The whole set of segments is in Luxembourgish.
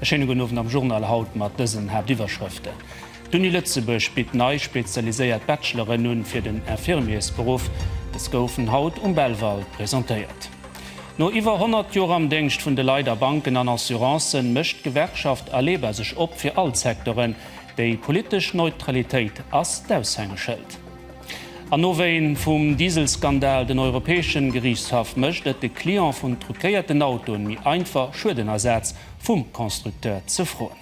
E schéine gudden Owend am Journal haut mat dësen Haaptiwwerschrëften, D'Uni Lëtzebuerg bitt nei spezialiséiert Bachelor'en un fir den Infirmiersberuff. Dës goufen haut um Belval presentéiert. No iwwer 100 Joer am Déngscht vun de Leit a Banken an Assurancen, mécht d'Gewerkschaft ALEBA sech op fir all d'Secteuren. Déi politesch Neutralitéit ass d'Aushängeschëld. An Nowéen vum Dieselskandal den Europäeschen Geriichtshaff mécht et de Client vun truquéierten Autoen méi einfach Schuedenersaz vum Constructeur ze froen.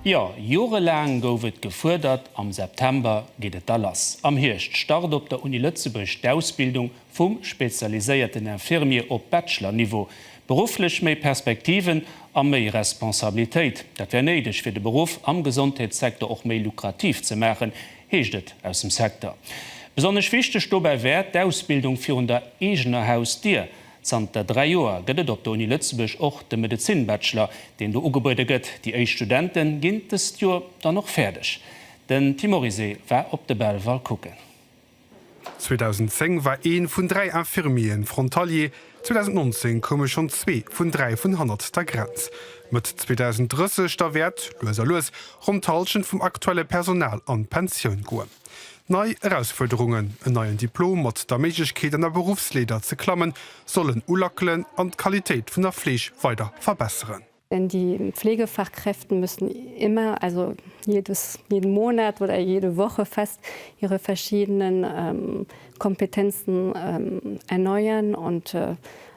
Jo, jorelaang gouf et gefuerdert, am September geet et da lass. Am Hierscht start op der Uni Lëtzebuerg d'Ausbildung vum spezialiséierten Infirmier op Bachelor-Niveau. Berufflech méi Perspektiven a méi Responsabilitéit, dat wär néideg fir de Beruff am Gesondheetssektor och méi lukrativ ze maachen, heescht et aus dem Secteur. Besonnesch wichteg dobäi wär d'Ausbildung virun der eegener Hausdier. Zanter dräi Joer gëtt et op der Uni Lëtzebuerg och de Medezin-Bachelor, deen do ugebuede gëtt. Déi éischt Studente ginn dëst Joer dann och fäerdeg. Den Tim Orisé war op de Belval kucken. 2010 war ee vun dräi Infirmieren Frontalier, 2019 koume schonn zwee vun dräi vun hannert der Grenz. Mëtt 2030 da wäert, lues a lues, ronn d'Hallschent vum aktuelle Personal an d'Pensioun goen. Nei Erausfuerderungen, en neien Diplom mat der Méiglechkeet an der Beruffsleeder ze klammen, sollen ulackelen an d'Qualitéit vun der Fleeg weider verbesseren. Die Pflegefachkräfte müssen immer, also jedes, jeden Monat oder jede Woche fast, ihre verschiedenen Kompetenzen erneuern und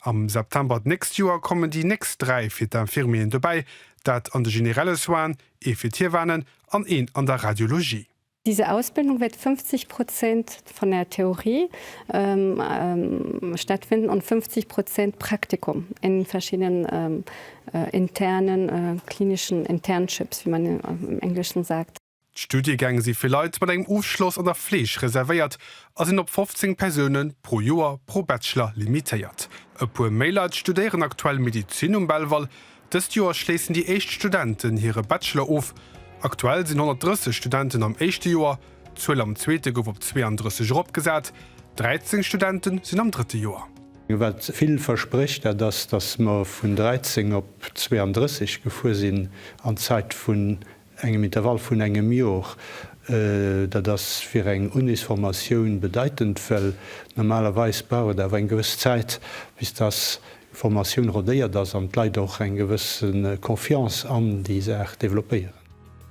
Am September d'nächst Joer kommen déi nächst dräi fir d'Infirmieren dobäi, dat an de generelle Soinen, ee fir d'Hiewanen an een an der Radiologie. Diese Ausbildung wird 50 Prozent von der Theorie stattfinden und 50 Prozent Praktikum in verschiedenen internen klinischen Internships, wie man im Englischen sagt. D'Studiegäng si fir Leit mat engem Ofschloss an der Fleeg reservéiert a sinn op 15 Persoune pro Joer pro Bachelor limitéiert. E puer méi Leit studéieren aktuell Medizin um Belval. Dëst Joer schléissen déi éischt Studenten hire Bachelor of. Aktuell sinn 130 Studenten am éischte Joer, d'Zuel am zweete gouf op 32 eropgesat. 13 Studente sinn am drëtte Joer. Wat vill versprécht, dat ass, datt mer vun 13 op 32 gefuer sinn an Zäit vun engem Intervall vun engem Jor. Dat ass fir eng Unisformatioun bedeitend, well normalerweis brauch et awer eng gewëss Zäit, bis dass d'Formatioun rodéiert ass an d'Leit och eng gewëss Confiance an déi Saach developpéieren.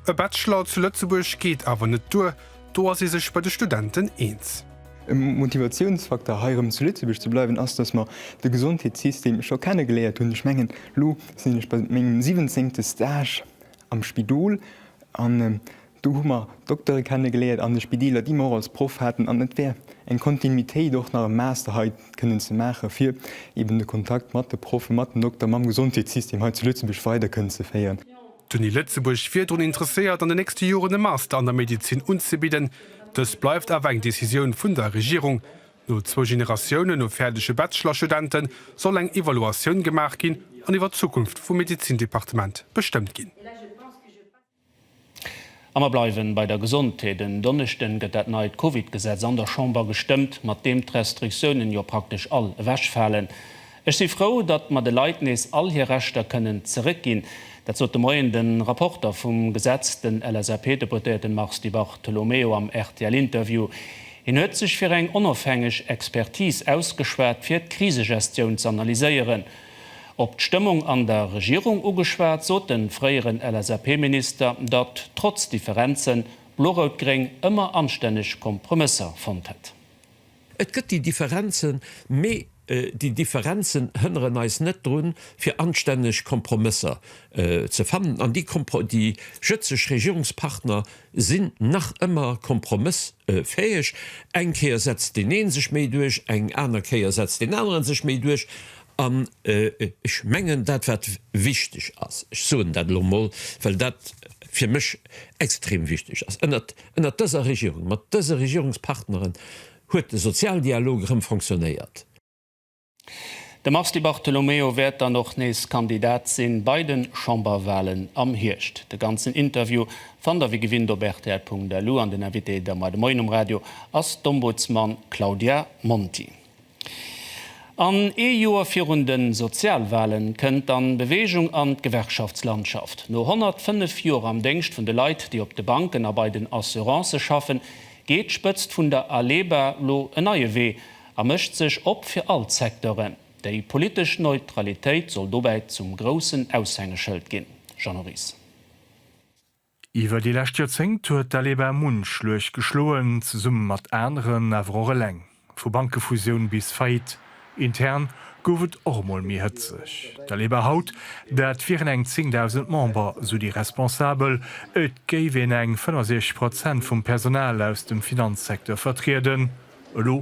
E Bachelor zu Lëtzebuerg geet awer net duer, do ass ee sech bei de Studenten eens. E Motivatiounsfakter hei erëm zu Lëtzebuerg ze bleiwen ass, dass mer de Gesondheetssystem scho kenne geléiert hunn. Ech mengen, elo sinn ech bei mengem siwwenzéngte Stage. am Spidol an do hu mer Doktere kenne geléiert an de Spideeler déi mer och als Proff haten an et wär eng Kontinuitéit och nach e Master hei kënnen ze maache fir eben de Kontakt mat de Proffe, mat den Dokter, mam Gesondheetssystem hei zu Lëtzebuerg weider kënnen ze féieren. D'Uni Lëtzebuerg wier drun interesséiert an de nächste Joren e Master an der Medezin unzebidden. Dëst bleift awer eng Decisioun vun der Regierung. No zwou Generatiounen u fäerdege Bachelor-Studente soll eng Evaluatioun gemaach ginn an iwwer d'Zukunft vum Medezin-Departement bestëmmt ginn. A mer bleiwen bei der Gesondheet. En Donneschden gëtt dat neit Covid-Gesetz an der Chamber gestëmmt, mat deem d'Restriktiounen jo praktesch all ewechfalen. Ech si frou, datt mer de Leit nees all hir Rechter kënnen zeréckginn. Dat sot de Moien de Rapporter vum Gesetz, den LSAP-Deputéierten Mars Di Bartolomeo am RTL-Interview. Hien huet sech fir eng onofhängeg Expertis ausgeschwat, fir d'Krisegestioun z'analyséieren. Op d'Stëmmung an der Regierung ugeschwat, sot de fréieren LSAP-Minister, datt trotz Differenzen, Blo-Rout-Gréng ëmmer anstänneg Kompromësser fonnt hätt. Et gëtt déi Differenzen, mee déi Differenzen hënneren eis net drun, fir anstänneg Kompromësser ze fannen. An déi jëtzeg Regierungspartner sinn nach ëmmer kompromëssfäeg. Eng Kéier setzt deen ee sech méi duerch, eng aner Kéier setzt deen aneren sech méi duerch. An ech mengen, dat wat wichteg ass, ech soen dat elo emol, well dat fir mech extrem wichteg ass, Ënnert dëser Regierung, mat dëse Regierungspartneren, huet de Sozialdialog erëm fonctionnéiert. De Mars Di Bartolomeo wäert dann och nees Kandidat sinn bei de Chamberwahlen am Hierscht. De ganzen Interview fannt der wéi gewinnt op rtl.lu an den Invité der Moi de Moien um Radio ass d'Ombudsman Claudia Monti. An ee Joer virun de Sozialwale kënnt dann Beweegung an d'Gewerkschaftslandschaft. No 105 Joer am Déngscht vun de Leit, déi op de Banken a bei den Assurancë schaffen, geet d'Spëtzt vun der ALEBA lo en neie Wee a mécht sech op fir all d'Secteuren. Déi politesch Neutralitéit soll dobäi zum groussen Aushängeschëld ginn. Jeannot Ries. Iwwer déi lescht Joerzéngt huet d'Aleba munch Schluecht geschloen, zesumme mat aneren, awer och eleng. Vu Bankefusioun bis Faillite, intern gouf et och emol méi hëtzeg. D'Aleba haut, dat wieren eng 10.000 Member, sou déi Responsabel, et géif een eng 65 Prozent vum Personal aus dem Finanzsecteur vertrieden, elo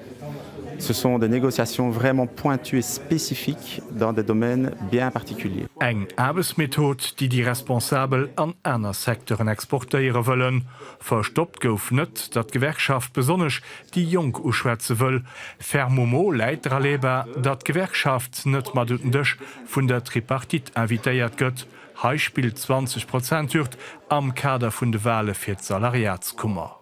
Ce sont des négociations vraiment pointues et spécifiques dans des domaines bien particuliers. Eng Aarbechtsmethod, déi déi Responsabel an aner Secteuren exportéiere wëllen. Verstoppt gouf net, datt d'Gewerkschaft besonnesch déi Jonk uschwätze wëll. Fermement läit dra leba, datt d'Gewerkschaft net mat un den Dësch vun der Tripartite invitéiert gëtt. Hei spillt d'Zwanzeg-Prozent-Hürd am Kader vun de Wahle fir d'Salariatskummer.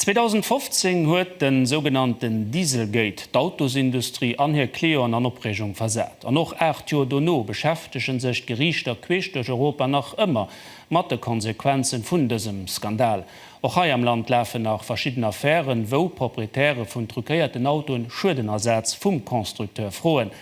2015 huet den sougenannten Dieselgate d'Autosindustrie an hir Clienten an Opreegung versat. An och 8 Joer dono beschäftegen sech d'Geriichter queesch duerch Europa nach ëmmer mat de Konsequenzen vun dësem Skandal. Och hei am Land lafen nach verschidden Affären, wou Proprietäre vun truquéierten Autoen Schuedenersaz vum Constructeur froen.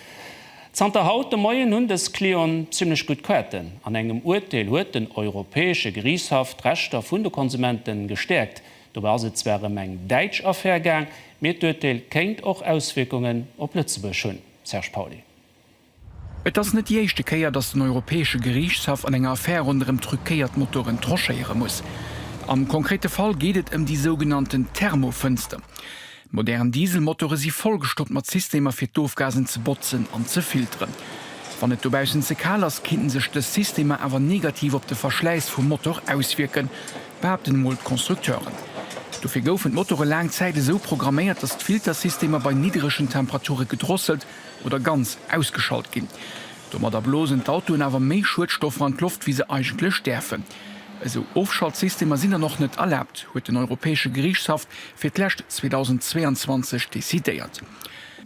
Zanter haut de Moien hunn dës Clienten zimmlech gutt Quêten. An engem Urteel huet den Europäesche Geriichtshaff d'Rechter vun de Konsumente gestäerkt. Dobäi ass et zwar ëm eng däitsch Affär gaang, mee d'Urteel kéint och Auswierkungen op Lëtzebuerg hunn, Serge Pauly. Et ass net déi éischte Kéier, datt den Europäesche Geriichtshaff an enger Affär ronderëm truquéiert Motoren tranchéiere muss. Am konkrete Fall geet et ëm déi sougenannten Thermofënster. Modern Dieselmotore si vollgestoppt mat Systemer fir d'Ofgasen ze botzen an ze filteren. Wann et dobaussen ze kal ass, kinnten sech dës Systemer awer negativ op de Verschläiss vum Motor auswierken, behaapten emol d'Constructeuren. Dofir goufen d'Motore laang Zäit esou programméiert, datt d'Filtersystemer bei nidderegen Temperature gedrosselt oder ganz ausgeschalt ginn. Domadder blosen d'Autoen awer méi Schuedstoffer an d'Loft, wéi se eigentlech däerfen. Esou Ofschaltsystemer sinn dann och net erlaabt, huet den Europäesche Geriichtshaff fir d'lescht 2022 decidéiert.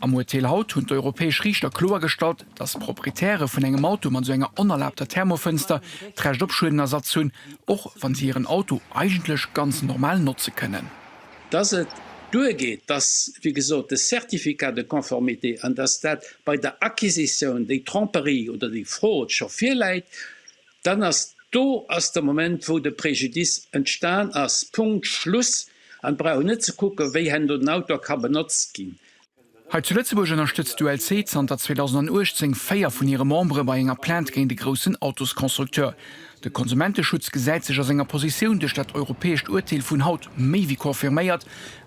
Am Urteel haut hunn d'europäesch Riichter kloergestallt, datt d'Proprietäre vun engem Auto mat esou enger onerlaabter Thermofënster d'Recht op Schuedenersatz hunn, och wa si hiren Auto eigentlech ganz normal notze kënnen. Datt et duergeet, datt, wéi gesot, de Certificat de conformité an datt dat bei der Acquisitioun, déi Tromperie oder déi Fraude scho virläit, Dann ass do ass de Moment, wou de Préjudice entstan ass. Punkt, Schluss. An et brauch een net ze kucken, wéi hen do den Auto ka benotzt ginn. Hei zu Lëtzebuerg ënnerstëtzt d'ULC zanter 2018 véier vun hire Membere bei enger Plainte géint e groussen Autosconstructeur. De Konsumenteschutz gesäit sech a senger Positioun duerch dat europäescht Urteel vun haut méi wéi confirméiert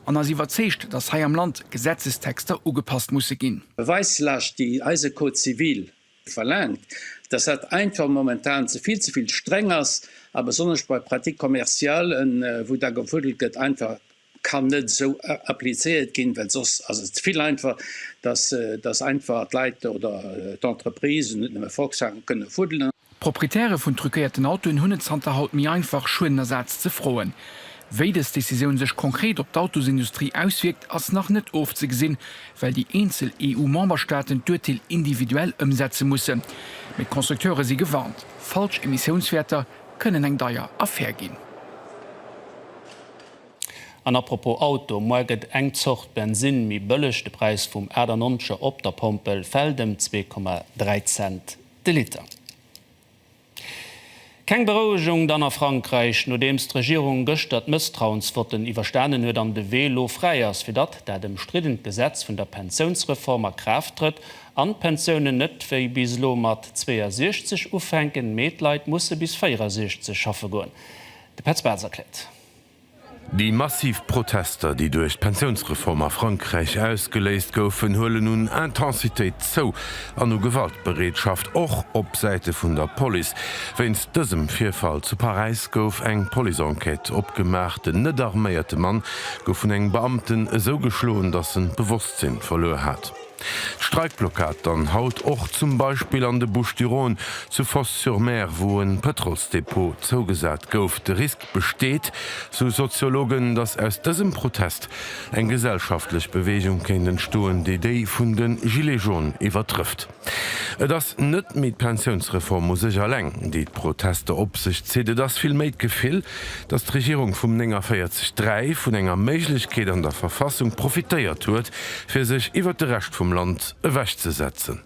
an ass iwwerzeegt, datt hei am Land Gesetzestexter ugepasst musse ginn. Beweislast, déi eise Code civil verlaangt, dass dat einfach momentan ze vill, ze vill streng ass a besonnesch bei Pratiques commerciales, wou da gefuddelt gëtt, einfach kann net esou applizéiert ginn, well soss ass et vill einfach, dass, dass einfach d'Leit oder d'Entreprisen, net nëmme Volkswagen, kënne fuddelen. D'Proprietäre vun truquéierten Autoen hunn et zanter haut méi einfach, Schuedenersaz ze froen. Wéi dës Decisioun sech konkret op d'Autosindustrie auswierkt, ass nach net ofzegesinn, well déi eenzel EU-Memberstaaten d'Urteel individuell ëmsetze mussen. Mee d'Constructeure si gewarnt, falsch Emissiounswäerter kënnen eng deier Affär ginn. An apropos Auto, Muar gëtt eng Zort Bensinn méi bëlleg, de Präis vum 98er op der Pompel fält ëm 2,3 Cent de Liter. Keng Berouegung dann a Frankräich, nodeems d'Regierung gëschter d'Mësstrauensvotten iwwerstanen huet an de Wee elo fräi ass, fir datt dat ëmstriddent Gesetz vun der Pensiounsreform a Kraaft trëtt an d'Pensiounen net wéi bis elo mat 62 ufänken, mee d'Leit musse bis 64 schaffe goen. De Petz Bartz erkläert. Déi massiv Protester, déi duerch d'Pensiounsreform a Frankräich ausgeléist goufen, huelen un Intensitéit zou an u Gewaltbereetschaft, och op Säite vun der Police. Wéinst dësem Virfall zu Paräis gouf eng Police-Enquête opgemaach. Den net arméierte Mann gouf vun engem Beamten esou geschloen, datt en d'Bewosstsinn verluer hat. D'Streikblockad dann haut och zum Beispill an de Bouches-du-Rhône, zu Fos-sur-Mer, wou e Pëtrolsdepot zougesat gouf. De Risk, besteet, sou Soziologen, datt aus dësem Protest eng gesellschaftlech Beweegung kéint entstoen, déi déi vun de Gilets jaunes iwwertrëfft. Et ass net méi d'Pensiounsreform u sech alleng, déi d'Protester op sech zitt, et ass vill méi d'Gefill, datt d'Regierung vum 49 3 vun enger Méiglechkeet an der Verfassung profitéiert huet, fir sech iwwer de Rescht vum Land ewechzesetzen.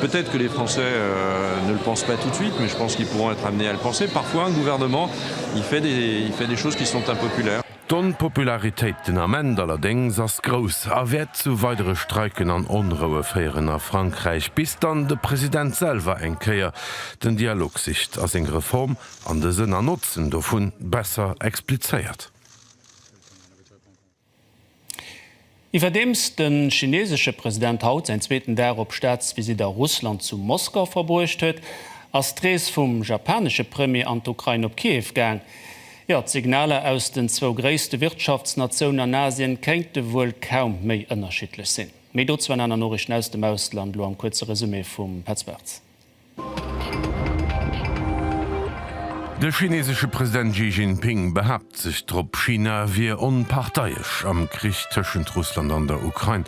Peut-être que les Français ne le pensent pas tout de suite, mais je pense qu'ils pourront être amenés à le penser. Parfois, un gouvernement, il fait des, il fait des choses qui sont impopulaires. D'Onpopularitéit den Ament allerdéngs ass grouss a wäert zu weidere Streiken an Onroue féieren a Frankräich, bis dann de President selwer eng Kéier den Dialog sicht a seng Reform an de Sënn an Notzen dovun besser explizéiert. Iwwerdeems de chineesesche President haut säin zweeten Dag op Staatsvisitt a Russland zu Moskau verbruecht huet, ass d'Rees vum japanesche Premier an d'Ukrain op Kiew gaang. Jo, d'Signaler aus den zwou gréisste Wirtschaftsnatiounen an Asien kéinte wuel kaum méi ënnerschiddlech sinn. Méi dozou an aner Noriichten aus dem Ausland, elo am kuerze Resumé vum Petz Bartz. De chinesesche President Xi Jinping behaapt sech drop, China wier onparteiesch am Krich tëschent Russland an der Ukrain.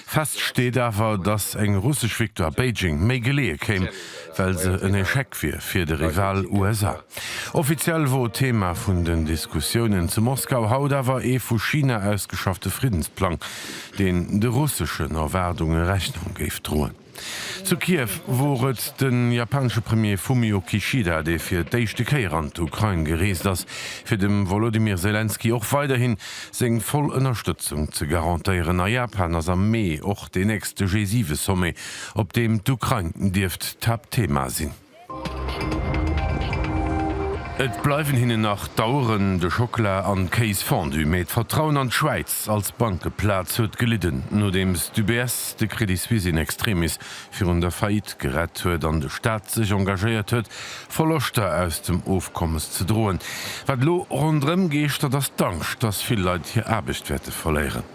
Fest steet awer, datt eng russesch Victoire Beijing méi geleeë kéim, well se en Echec wier fir de Rival USA. Offiziell wor Thema vun den Diskussiounen zu Moskau haut awer ee vu China ausgeschaffte Friddensplang, deen de russeschen Erwaardunge Rechnung géif droen. Zu Kiew wor et de japanesche Premier Fumio Kishida, dee fir d'éischte Kéier an d'Ukrain gereest ass, fir dem Wolodymyr Selenskyj och weiderhin seng voll Ënnerstëtzung ze garantéieren. A Japan ass am Mee och deen nächste G7-Sommet, op deem d'Ukrain dierft d'Haaptthema sinn. Et bleiwen hinnen nach d'Aueren, de Schockela an d'Kéis Fondue, mee d'Vertrauen an d'Schwäiz als Bankeplaz huet gelidden, nodeems d'UBS de Credit Suisse in extremis virun der Faillite gerett huet an de Staat sech engagéiert huet, Verloschter aus dem Ofkommes ze droen. Wat elo ronderëm geeschtert, ass d'Angscht, dass vill Leit hir Aarbecht wäerte verléieren.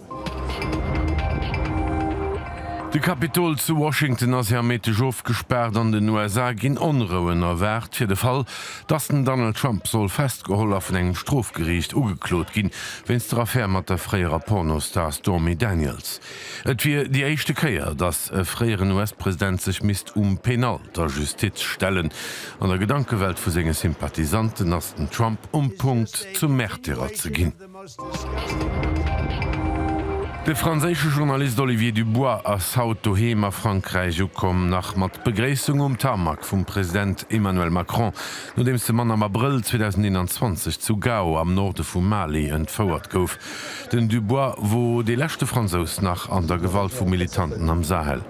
De Kapitol zu Washington ass ja Méindeg ofgespaart. An den USA ginn Onrouen erwaart, fir de Fall, dass den Donald Trump soll festgeholl a vun engem Strofgeriicht ugeklot ginn, wéinst der Affär mat der fréierer Pornostar Stormy Daniels. Et wier déi éischte Kéier, dass e fréieren US-President sech misst um Penal der Justiz stellen. An der Gedankewelt vu senge Sympathisanten ass den Trump um Punkt, zum Märtyrer ze ginn. De franséische Journalist Olivier Dubois ass haut doheem a Frankräich ukomm, nach mat Begréissung um Tarmac vum President Emmanuel Macron, nodeems de Mann am Abrëll 2021 zu Gao am Norde vum Mali entfouert gouf. Den Dubois wor dee leschte Fransous nach an der Gewalt vu Militanten am Sahel.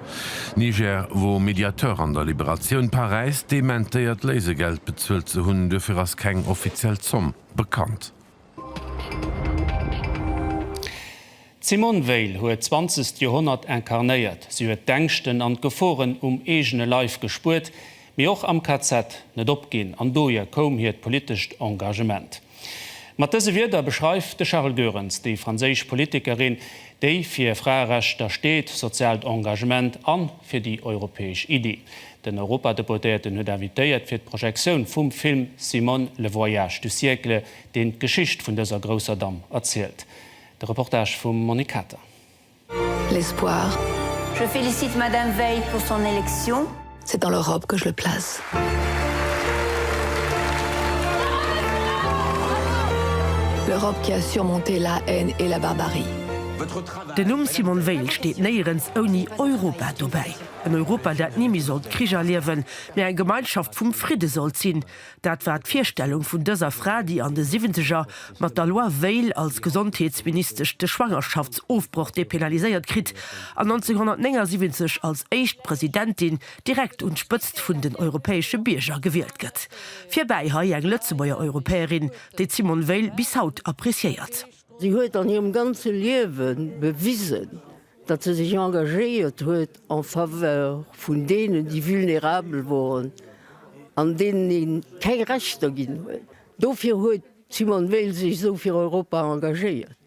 Niger wor Mediateur an der Liberatioun. Paräis dementéiert Léisegeld bezuelt ze hunn, duerfir ass keng offiziell Zomm bekannt. D'Simone Veil huet d'zwanzegt Joerhonnert incarnéiert. Si huet d'Ängschten an d'Geforen um eegene Leif gespuert, mee och am KZ net opginn an dohier koum hiert politescht Engagement. Mat dëse Wierder beschreift de Charel Goerens déi franséisch Politikerin, déi fir Fraerechter steet, soziaalt Engagement an fir déi europäesch Iddi. Den Europadeputéierten huet invitéiert fir d'Projektioun vum Film Simone, le voyage du siècle, deen d'Geschicht vun dëser grousser Damm erzielt. De Reportage vum Monique Kater. L'espoir. Je félicite Madame Veil pour son élection. C'est dans leur robe que je le place. Leur robe qui a surmonté la haine et la barbarie. Den Numm Simone Veil steet néierens ouni Europa dobäi. En Europa, dat ni méi sollt Krich erliewen, mä eng Gemeinschaft vum Fridde sollt sinn, dat war d'Virstellung vun dëser Fra, déi an de Siwwenzeger mat der Loi Veil als Gesondheetsministesch de Schwangerschaftsofbroch dépénaliséiert kritt an 1979 als éischt Presidentin direkt un d'Spëtzt vun den europäesche Bierger gewielt gëtt. Virbäi hei eng Lëtzebuerger Europäerin, déi d'Simone Veil bis haut appreciéiert. Si huet an hirem ganze Liewe bewisen, datt se sech engagéiert huet en faveur vun deenen, déi vulnérabel woren an deenen ee keng Rechter ginn huet. Dofir huet d'Simone Veil sech esou fir Europa engagéiert,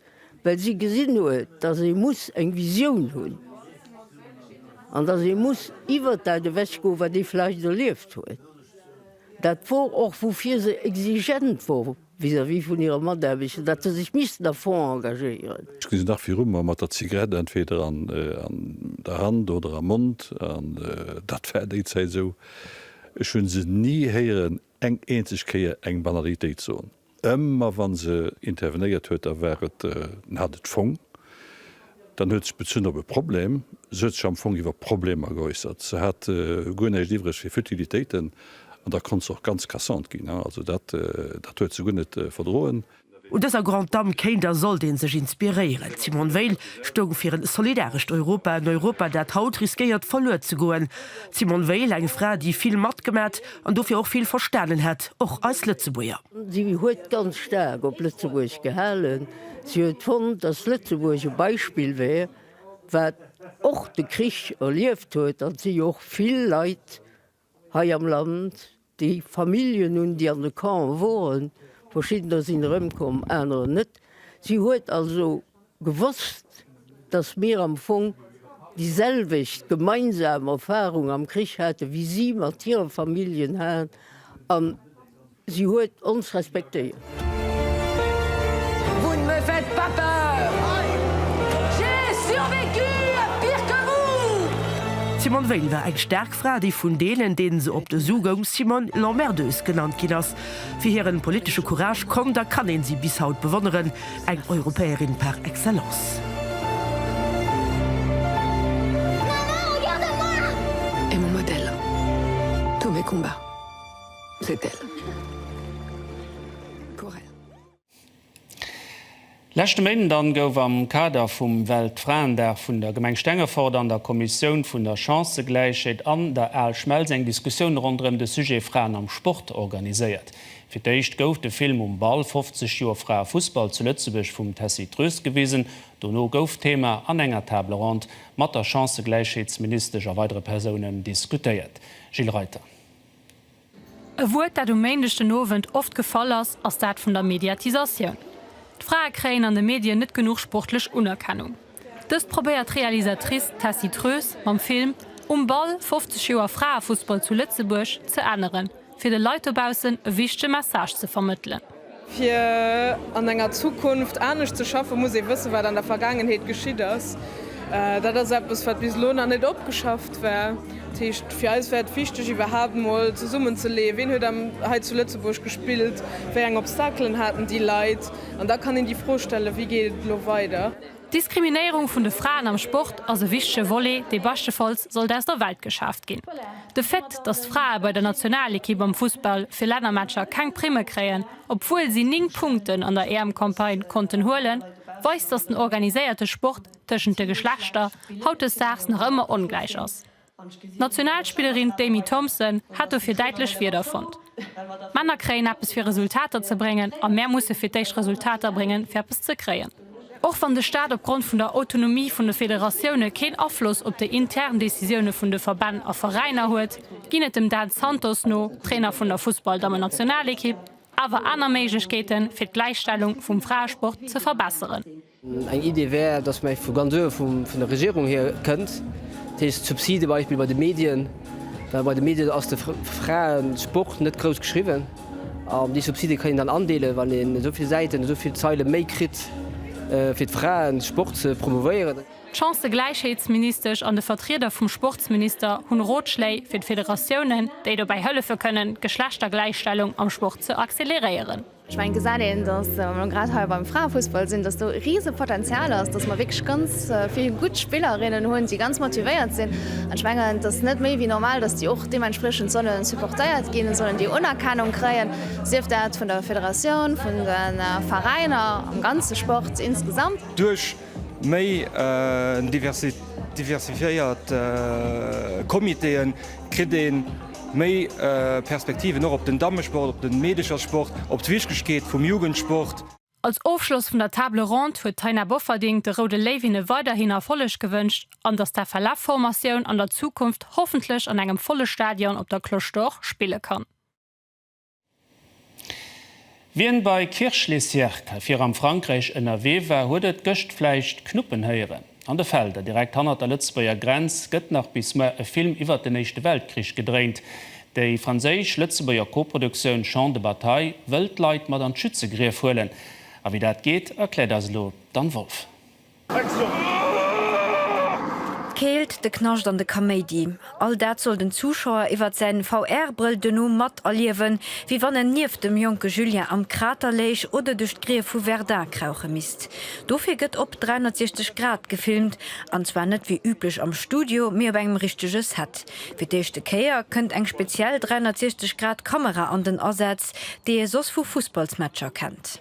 well si gesinn huet, datt ee muss eng Visioun hunn an datt ee muss iwwert dat ewechgoen, wat ee vläicht erlieft huet. Dat wor och, woufir se exigent wor. Vis-à-vis vun hire Mataarbechter, datt se sech missten à fond engagéieren. Ech gesinn dach viru mer, mat der Zigarett entweder an der Hand oder am Mond, an dat war déi Zäit esou. Ech hu se ni héieren eng eenzeg Kéier eng Banalitéit soen. Ëmmer wa se intervenéiert huet, da war et, en hat et fong, Dann huet sech bezunn op e Problem, se huet sech am Fong iwwer Problemer geäussert. Se hat guer näischt iwwreg fir Futilitéiten an da konnt se och ganz cassant ginn. Also dat huet se guer net verdroen. Un dëser Grande Dame kéint a sollt ee sech inspiréieren. D'Simone Veil stoung fir en solidarescht Europa, en Europa, dat haut riskéiert verluer ze goen. D'Simone Veil, eng Fra, déi vill matgemat an dofir och vill verstanen hätt, och eis Lëtzebuerger. Si huet ganz staark op Lëtzebuerg gehalen. Si huet fonnt, datt Lëtzebuerg e Beispill wär, wat och de Krich erlieft huet, an et si jo och vill Leit hei am Land, déi Familljen hunn, déi an de Campe woren, verschiddener sinn erëmkomm, anerer net. Si huet also gewosst, datt mir am Fong déi selwecht gemeinsam Erfarung am Krich hate wéi si mat hire Familljen hat. Si huet ons respektéiert. Vous ne me faites pas peur, j'ai survécu à pire que vous! D'Simone Veil war eng staark Fra, déi vun deenen, deenen se op de Su goung, Simone l'emmerdeuse genannt ginn ass. Fir hiren politesche Courage konnt a kann een si bis haut bewonneren, eng Europäerin par excellence. Maman, regarde à moi! Es mon modèle, tous mes combats. Rtl. Leschte Méinden dann gouf am Kader vum Weltfraendag vun der Gemeng Stengefort an der Kommissioun vun der Chancëgläichheet an der Aalschmelz eng Diskussioun ronderëm de Sujet Fraen am Sport organiséiert. Fir d'éischt gouf de Film Um Ball, 50 Joer Fraefussball zu Lëtzebuerg vum Tessy Troest gewisen. Dono gouf d'Thema an enger Table ronde mat der Chancëgläichheetsministesch a weidere Persounen diskutéiert. Gilles Reiter. E Wuert, dat um Méindeg den Owend oft gefall ass, ass dat vun der Mediatisatioun. D'Frae kréien an de Medien net genuch sportlech Unerkennung. Dëst probéiert d'Realisatrice Tessy Troes mam Film Um Ball, 50 Joer Fraefussball zu Lëtzebuerg ze änneren, fir de Leit dobaussen e wichtege Message ze vermëttelen. Fir an enger Zukunft anescht ze schaffen, muss ee wëssen, wat an der Vergaangenheet geschitt ass. Dat ass eppes, wat bis elo nach net opgeschafft war. Dat heescht, fir eis war et wichteg, iwwerhaapt mol zesummenzeleeën, wien huet hei zu Lëtzebuerg gespillt, wéi eng Obstaclen haten déi Leit. An da kann een déi Fro stellen, Wéi geet et elo weider? D'Diskriminéierung vun de Fraen am Sport ass e wichtege Volet, dee beschtefalls sollt aus der Welt geschaaft ginn. De Fait, datt d'Frae bei der Nationalekipp am Fussball fir Lännermatcher keng Primme kréien, obwuel si 9 Punkten an der EM-Campagne konnten huelen, weist, datt den organiséierte Sport tëschent de Geschlechter hautdesdaags nach ëmmer ongläich ass. D'Nationalspillerin d'Amy Thompson hat dofir däitlech Wierder fonnt, D'Männer kréien eppes fir Resultater ze bréngen a mär musse fir d'éischt Resultater bréngen fir eppes ze kréien. Och wann de Staat opgrond vun der Autonomie vun de Federatioune keen Afloss op déi intern Decisioune vun de Verbänn a Veräiner huet, ginn et dem Dan Santos no, Trainer vun der Fussballdammennationalekipp, awer aner Méiglechkeeten fir d'Gläichstellung vum Fraesport ze verbesseren. Eng Idee wär, dass mer vu ganz uewe vun der Regierung hier kënnt, dat heescht d'Subside beispill bei de Medien, well bei de Medien ass de Fraesport net grouss geschriwwen an déi Subside kann een dann andeelen, wann een esou vill Säiten, esou vill Zeile méi kritt fir de Fraesport ze promouvéieren. D'Chancëgläichheetsministesch an de Vertrieder vum Sportsminister hunn Rotschléi fir d'Federatiounen, déi dobäi hëllefe kënnen d'Geschlechtergläichstellung am Sport ze acceleréieren. Ech mengen, gesäit een, datt, wa mer grad hei beim Fraefussball sinn, datt do e rise Potenzial ass, datt mer wierklech ganz vill gutt Spillerinnen hunn, déi ganz motivéiert sinn. An ech mengen, et ass net méi wéi normal, datt déi och deementspriechend solle supportéiert ginn, et sollen déi Unerkennung kréien, sief dat vun der Federatioun, vun de Veräiner, am ganze Sport insgesamt. Duerch Méi diversifiéiert Comitéen, kritt een méi Perspektiven och op den Dammesport, op den Meedechersport, op d'Wichtegkeet vum Jugendsport. Als Ofschloss vun der Table Ronde huet d'Taina Bofferding de Roude Léiwinne weiderhin Erfolleg gewënscht an dass d'FLF Formatioun an der Zukunft hoffentlech an engem volle Stadion op der Cloche d'Or spille kann. Wien bei Kirch-lez-Yerques fir am Frankräich ënnerwee war, huet et gëscht vläicht knuppen héieren. An de Felder direkt hannert der Lëtzebuerger Grenz gëtt nach bis muer e Film iwwert den Éischte Weltkrich gedréint. Déi franséisch-lëtzebuerger Koproduktioun Champs de bataille wëll d'Leit mat an d'Schützegrief huelen. A wéi dat geet, erkläert eis elo d'Anne Wolff. D'Keelt, de Knascht an de Kaméidi, all dat soll den Zuschauer iwwert säin VR-Brëll duerno mat erliewen, wéi wann en nieft dem jonke Julien am Krater léich oder duerch d'Grief vu Verdun krauche misst. Dofir gëtt op 360 Grad gefilmt, an zwar net wéi üblech am Studio, mee op engem richtege Set. Fir d'éischte Kéier kënnt eng speziell 360 Grad Kamera an den Asaz, déi ee soss vu Fussballsmatcher kennt.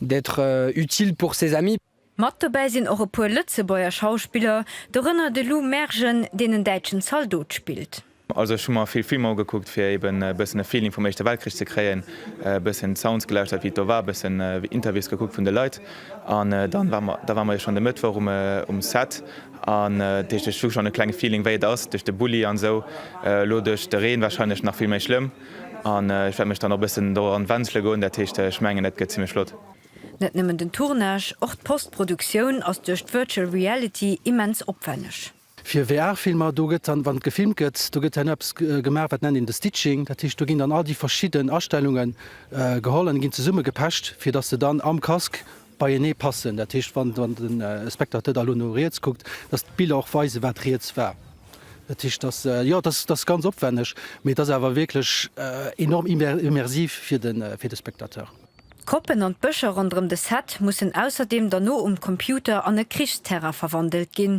d'être utile pour ses amis. Mat dobäi sinn och e puer Lëtzebuerger Schauspiller, dorënner de Lou Mergen, deen en däitschen Zaldot spillt. Also ech hu mer vill Filmer ugekuckt fir eben e bëssen e Feeling vum Éischte Weltkrich ze kréien, e bëssen d'Sounds gelauschtert wéi et do war, e bëssen Interviews gekuckt vun de Leit an dann war mer, da war mer jo schonn de Mëttwoch um um Set an dat heescht ech hu schonn e klenge Feeling wéi et ass duerch de Bulli an esou, elo duerch de Reen wahrscheinlech nach vill méi schlëmm. An ech wäert mech dann och e bëssen doran wenzele goen. Dat heescht, ech mengen, dat gëtt zimlech flott. Net nëmmen den Tournage, och d'Postproduktioun ass duerch d'Virtual Reality immens opwenneg. Fir VR-Filmer, do gëtt dann, wann gefilmt gëtt, do gëtt dann eppes gemaach, wat nennt een de Stitching. Dat heescht, do ginn dann all déi verschidden Astellunge geholl an ginn zesummegepecht, fir datt se dann am Casque beienee passen, dat heescht, wann de Spectateur da elo no riets kuckt, dass d'Biller och weisen, wat riets war. Dat heescht, dass, jo, dass ass ganz opwänneg, mee et ass awer wierklech enorm immersiv fir de Spectateur. D'Koppen an d'Bëscher ronderëm de Set mussen ausserdeem derno um Computer an e Krichsterrain verwandelt ginn.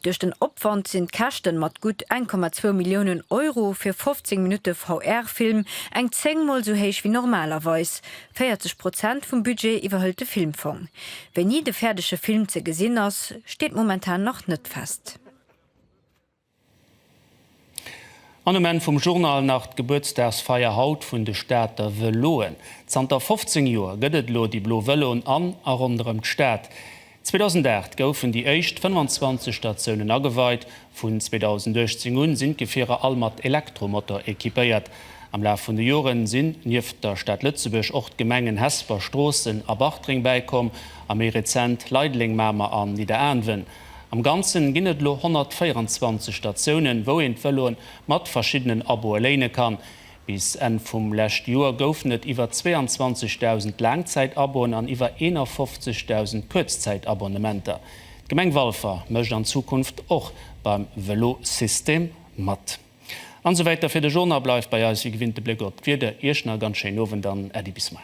Duerch den Opwand sinn d'Käschten mat gutt 1,2 Milliounen Euro fir 15 Minutte VR-Film eng zéngmol esou héich wéi normalerweis. 40 Prozent vum Budget iwwerhëlt de Filmfong. Wéini de fäerdege Film ze gesinn ass, steet momentan nach net fest. An um Enn vum Journal nach d'Gebuertsdagsfeier haut vun de Stater Vëloen. Zanter 15 Joer gëtt et elo déi blo Vëloen an a ronderëm d'Stad. 2008 goufen déi éischt 25 Statiounen ageweit. Vun 2018 un sinn d'Gefierer all mat Elektromotor equipéiert. Am Laf vun de Joren sinn nieft der Stad Lëtzebuerg och d'Gemengen Hesper, Stroossen a Bartreng bäikomm a méi rezent Leideleng, Mamer an Nidderaanwen. Am Ganzen ginn et elo 124 Statiounen, wou een d'Vëloen mat verschiddenen Aboe léine kann. Bis Enn vum lescht Joer goufen et iwwer 22.000 Laangzäitabonn an iwwer 51.000 Kuerzzäitabonnementer. D'Gemeng Walfer mécht an Zukunft och beim Velosystem mat. An esou wäiter fir de Journal. Bleift bei eis, wéi gewinnt, de Bléck op d'Wieder. Iech nach e ganz schéinen Owend an Äddi bis muer.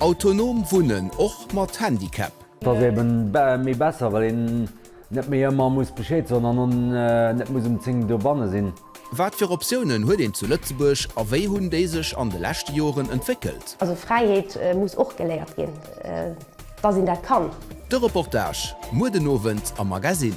Autonom wunnen, och mat Handicap? Et ass eben méi besser well een net méi ëmmer muss Bescheed soen an en net muss um 10 dobanne sinn. Wat fir Optiounen huet een zu Lëtzebuerg a wéi hunn déi sech an de leschte Joren entwéckelt? Also Fräiheet muss och geléiert ginn, dass een dat kann. De Reportage muer den Owend am Magazine.